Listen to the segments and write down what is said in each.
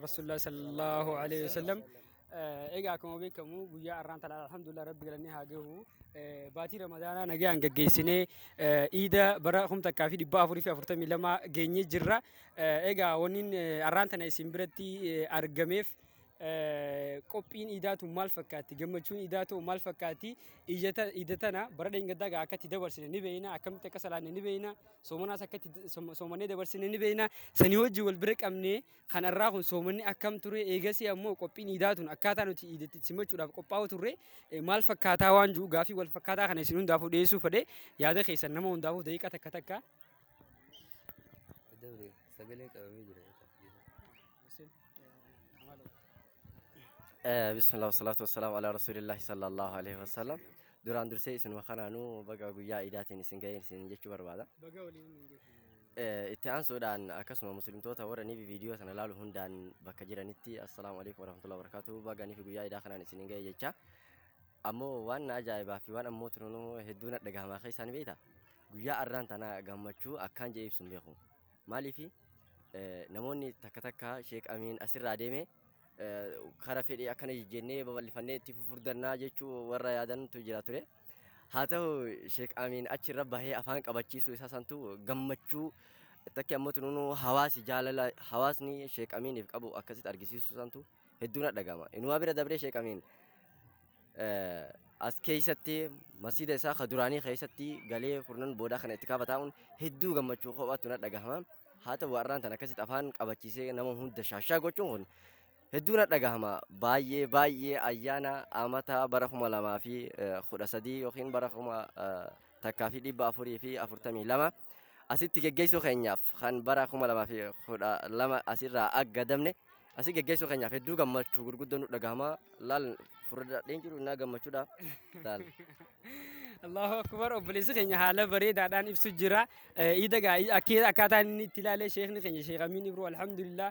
Rasuulullah sallallahu alaihi wasallam egaa akkuma beekamu guyyaa har'aan tana alhamdulillah rabbi galannee haa gahu baatii ramadaanaa nagaan gaggeessinee iida bara kum takkaa fi dhibba afurii fi afurtamii lama geenyee jirra egaa wanniin har'aan tana isin biratti argameef qophiin iidaatu maal fakkaatti gammachuun iidaatu maal fakkaatti iida tana bara dheengaddaa gaa akkatti dabarsine ni beeyna akkamitti akka salaanne ni beeyna soomanaas akkatti soomannee dabarsine ni beeyna sanii hojii wal bira qabnee Kan har'aa kun soomanni akkam ture? Eegasii ammoo qophiin iidaa tun akkaataa nuti iidatti simachuudhaaf qophaa'u turre eh, maal fakkaataa waan jiru gaafii wal fakkaataa kana isin hundaafuu dhiyeessuu fedhe yaada keessan nama hundaafuu daqiiqa takka takka Dabre sagalee qabamee jira. Bismillah wasalaatu wasalaamu ala rasuulillahi sallallahu alaihi wasallam. Duraan dursee isinuma kanaanuu baga guyyaa iidaatiin isin ga'een isin jechuu barbaada. baga waliin Eh, Itti aansuudhaan akkasuma muslimtoota warra nifi viidiyoo sana laalu hundaan bakka jiranitti assalaamu alaikum warahmatullahi wabarakatuh baga nifi guyyaa idaa kanaan isin hin ga'e jecha ammoo waan na ajaa'ibaa fi waan ammoo tununuu hedduu na dhagahamaa keessaa ni beekta guyyaa arraan tana gammachuu akkaan jee ibsu hin beeku maaliifi eh, namoonni takka takka sheek amiin asirraa deeme eh, kara fedhii akkana jijjennee babal'ifannee itti fufurdannaa jechuu warra yaadantu jira ture Haa ta'u Sheek Amiin achi irra bahee afaan qabachiisuu isaa santu gammachuu takki ammoo tunuu hawaasi jaalala hawaasni Sheek Amiiniif qabu akkasitti argisiisuu santu hedduun dhagama. Inumaa bira dabree Sheek Amiin as keessatti masjiida isaa ka duraanii keessatti galee kurnan boodaa kana itti kaaba taa'uun hedduu gammachuu kophaattu na dhagahama. Haa ta'u har'aan tan akkasitti afaan qabachiisee nama hunda shaashaa gochuun kun Hedduu na dhagahama baay'ee baay'ee ayyaana amata bara kuma lamaa fi kudha sadii yookiin bara kuma takkaa fi dhibba afurii fi afurtamii lama asitti geggeessuu keenyaaf kan bara kuma lamaa fi kudha lama asirraa aggadamne asii geggeessuu keenyaaf hedduu gammachuu gurguddoo nu dhagahama laal furdaadheen jiru naa gammachuudha laal. Allahu akbar obboleessi keenya haala bareedaadhaan ibsu jira. Iida gaa akkaataa inni itti ilaalee sheekni keenya sheek Amiin Ibroo alhamdulillah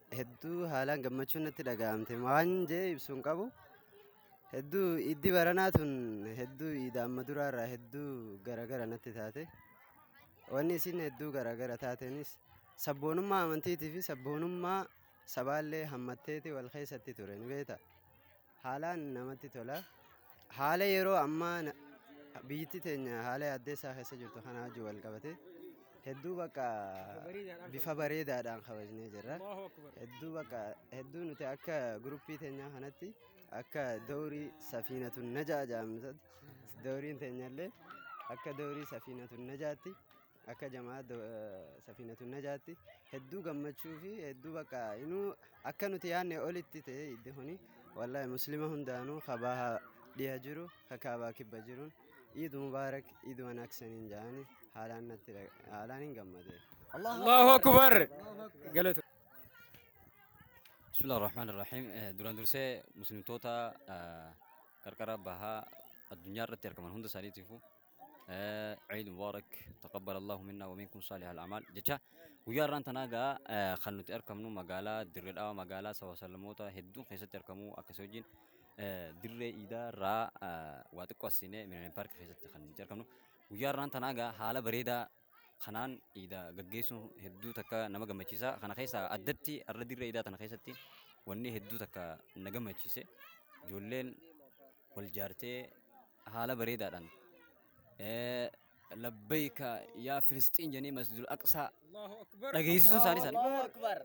Hedduu haalaan gammachuun natti dhaga'amte waan jee ibsu hin qabu. Hedduu iddi baranaa tun hedduu iida amma duraa irraa hedduu garagara natti taate. Wanni isin hedduu garagara taatenis sabboonummaa amantiitii fi sabboonummaa sabaallee hammatteeti wal keessatti ture ni beekta. Haalaan namatti tola. Haala yeroo ammaa na- biyyittii teenya haala yaaddeessaa keessa jirtu kanaa wajjin wal qabate hedduu bakka bifa bareedaadhaan kabajnee jirra. Hedduu bakka hedduu nuti akka guruppii teenyaa kanatti akka doorii safiinatu najaa jedhamtu dawriin teenyallee akka doorii safiinatu najaatti akka jamaa safiinatu najaatti hedduu gammachuu fi hedduu bakka inuu akka nuti yaadne olitti ta'e iddi kuni wallahi muslima hundaanuu kabaa dhiha jiru kakaabaa kibba jiruun iid mubaarak iid wanaaksaniin jaani haalaan natti haalaan hin gammade. Allahu akbar galatu. Bismillah ar-Rahman ar-Rahim duraan dursee muslimtoota qarqara bahaa addunyaa irratti argaman hunda isaaniitiifuu Eh, Eid Mubarak, taqabbal Allahu minna wa minkum salih al-amal. Jecha guyyaa irraan tanaa gaa eh, kan nuti argamnu magaalaa Dirree Dhawaa magaalaa sawasallamoota hedduun keessatti argamu akkasii wajjin eh, Dirree Iidaa irraa eh, waa xiqqoo assiinee Millennium Park keessatti kan nuti argamnu. Guyyaa irraan tanaa gaa haala bareedaa kanaan iidaa gaggeessuun hedduu takka nama gammachiisa. Kana keessaa addatti har'a dirree iidaa tana keessatti wanni hedduu takka na gammachiise ijoolleen wal jaartee haala bareedaadhaan eh, labbayka yaa Filisxiin jenee masjidul aqsaa dhageessisuu isaanii isaanii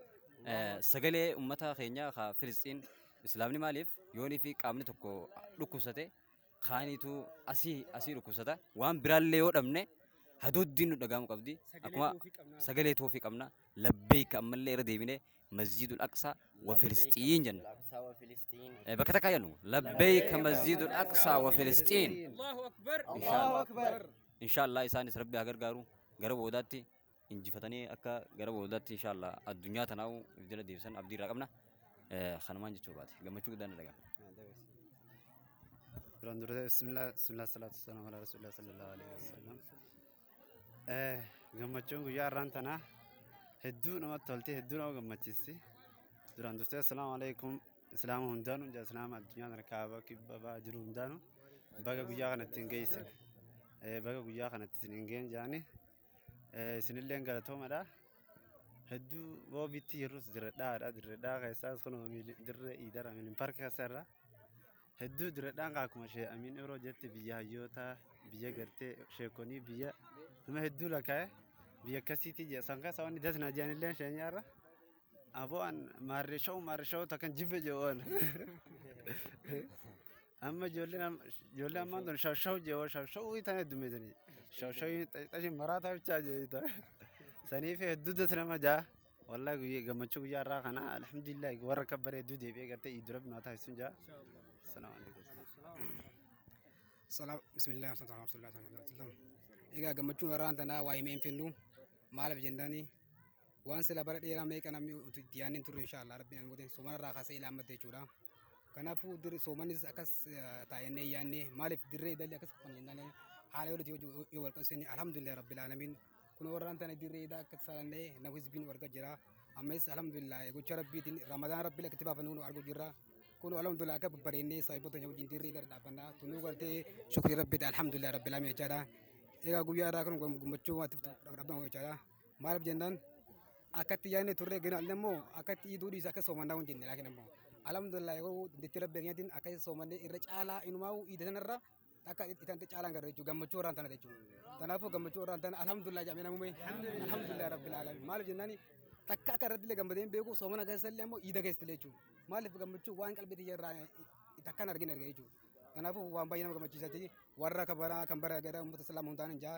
eh, sagalee ummata keenyaa ka Filisxiin islaamni maaliif yoonii fi qaamni tokko dhukkubsate kaaniitu asii asii dhukkubsata. Waan biraallee yoo dhabne hadooddiin nu dhaga'amu qabdi. Akkuma sagalee toofii qabna. Labbeeyka ammallee irra deebine masjiidul aqsaa wa filisxiin jenna. Eh, Bakka takka jennu labbeeyka masjiidul aqsaa wa filisxiin. Inshaallaa isaanis rabbi haa gargaaru gara boodaatti injifatanii akka gara boodaatti inshaallah addunyaa tanaa'u if jala deebisan abdii irraa qabna. Eh, Kanumaan jechuu baate gammachuu guddaan na dhaga'ama. Duraan duree bismillah bismillah salaatu wassalaam ala rasulillah sallallahu alaihi wasallam. Eh, Gammachuun guyyaa har'aan tanaa hedduu namatti tolti hedduu nama gammachiisti. Duraan dursee assalaamu alaikum islaama hundaanuu jaa islaama addunyaa tana kaaba kibba ba'a jiru hundaanuu baga guyyaa kanatti hin geessan. Eh, Baga guyyaa kanatti isin hin geenye jaanii Isinillee galatoomadha. Hedduu roobitti jirrus dirredhaadha. Dirredhaa keessaas kun dirree iidara miliin parki keessa irra. Hedduu dirredhaan kan akkuma ishee amiin yeroo jetti biyya hayyoota biyya gartee sheekonii biyya nama hedduu lakkaa'e biyya akkasiitii jira. San keessa wanni dasna jiranillee isheenyaa irra. Aboo an maarree shawuu maarree shawuu takkan jibbe jawaan. Amma ijoolleen amma- ijoollee ammaan tun shawshawu jeewoo shawshawuu itaan heddummeessanii. Shawshawii xaxii maraataa bichaa jeeyitaa. Saniif hedduu das nama jaa. Wallaahi guyyaa gammachuu guyyaa irraa kana alhamdulillah warra akka bare hedduu deebi'ee gartee iiddu rabbi naa taasisuun jaa. Salaamu alaikum. Salaam bismillah wasalaatu ala rasulillah sallallahu alaihi wasallam. Egaa gammachuun warraan tanaa waa himee hin fennu maaliif jennaani waan sila bara dheeraa meeqa namni uti itti yaadne hin turre inshaallah rabbiin an godhe sumana irraa kaasee ilaa ammatte jechuudha. Kanaafuu dirri soomanis akkas taa'ennee yaannee maaliif dirree dalli akkas qofan jennaan haala yoo nuti yoo wal qabsiisne alhamdulillah rabbil alamin kun warraan tana dirree daa akka saalannee nama hizbiin warga jira ammas alhamdulillah gocha rabbiitiin ramadaan rabbii akkatti baafan nu argu jirra kun alhamdulillah akka babbareennee saayibota hin wajjin dirree dara dhaabbanna tunuu galtee shukrii rabbiiti alhamdulillah rabbil alamin jechaadha egaa guyyaa irraa kun gammachuu waatiif dhaabbanna jechaadha. Maaliif jennaan akkatti yaadne turre ginaallee immoo akkatti iduu dhiisa akka soomannaa hin jenne laakiin immoo alhamdulillah yeroo dandeettii rabbi keenyatiin akka soomannee irra caalaa inumaa iida sanarra akka itan caalaan gara jechuudha gammachuu irraan tana jechuudha. Kanaafuu gammachuu irraan tana alhamdulillah jedhamee namumee alhamdulillah rabbil alamin maaliif jennaan takka akka irratti illee gammadee hin beeku soomana keessa illee immoo iida keessa illee jechuudha. Maaliif gammachuu waan qalbii tiyya irraa takkaan argin argee jechuudha. Kanaafuu waan baay'ee nama gammachiisaati warra kabaraa kan bara gara uummata islaamaa hundaan hin jaa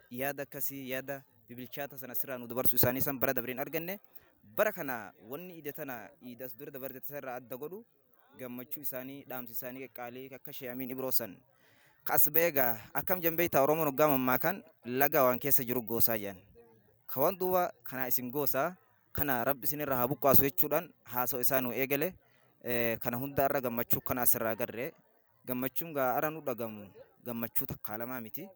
yaada akkasii yaada bibilchaata sana sirraa nu dabarsu isaanii san bara dabreen arganne bara kana wanni ida tana iidas dura dabarte irraa adda godhu gammachuu isaanii dhaamsi isaanii qaqqaalee akka sheeyamiin ibroo san kas beega akkam jambeeyta oromoon hoggaa mammaa kan laga waan keessa jiru goosaa jedhan ka waan duuba kanaa isin goosaa kana rabbi isinirraa haa buqqaasu jechuudhaan haasoo isaa nu eegale kana hunda irra gammachuu kana asirraa agarre Gammachuun gaa ara nu dhagamu gammachuu takkaa lamaa miti.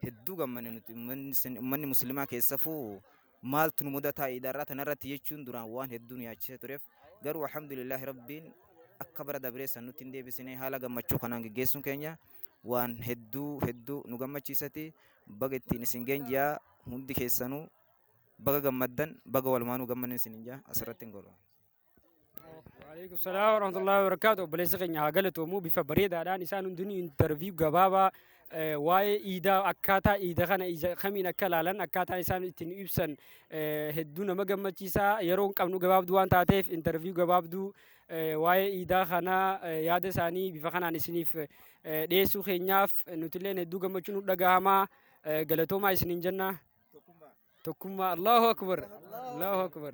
Hedduu gammanne nuti ummanni sin- ummanni muslimaa keessafuu maaltu nu mudataa iidarraa tanarratti jechuun duraan waan hedduu nu yaachisee tureef garuu alhamdulillaahi rabbiin akka bara dabree san nutti hin deebisine haala gammachuu kanaan geggeessuun keenya waan hedduu hedduu nu gammachiisati baga ittiin isin geenjiyaa hundi keessanuu baga gammaddan baga walumaanuu gammanne isin hin jaa asirratti hin godhu. Waalaikum salaam warahmatullahi wabarakatuh. Obboleessa keenya haa galatoomu bifa bareedaadhaan isaan hundinuu intarviyu gabaabaa eh, waa'ee iidaa akkaataa iida kana ija kamiin akka ilaalan akkaataa isaan ittiin ibsan eh, hedduu nama gammachiisaa yeroo hin qabnu gabaabduu waan taateef intarviyu gabaabduu eh, waa'ee iidaa kanaa eh, yaada isaanii bifa kanaan isiniif eh, dhiyeessuu keenyaaf eh, nutilleen hedduu gammachuun nu dhagahamaa eh, galatoomaa isiniin jenna. Tokkummaa Allahu Akbar Allahu Akbar.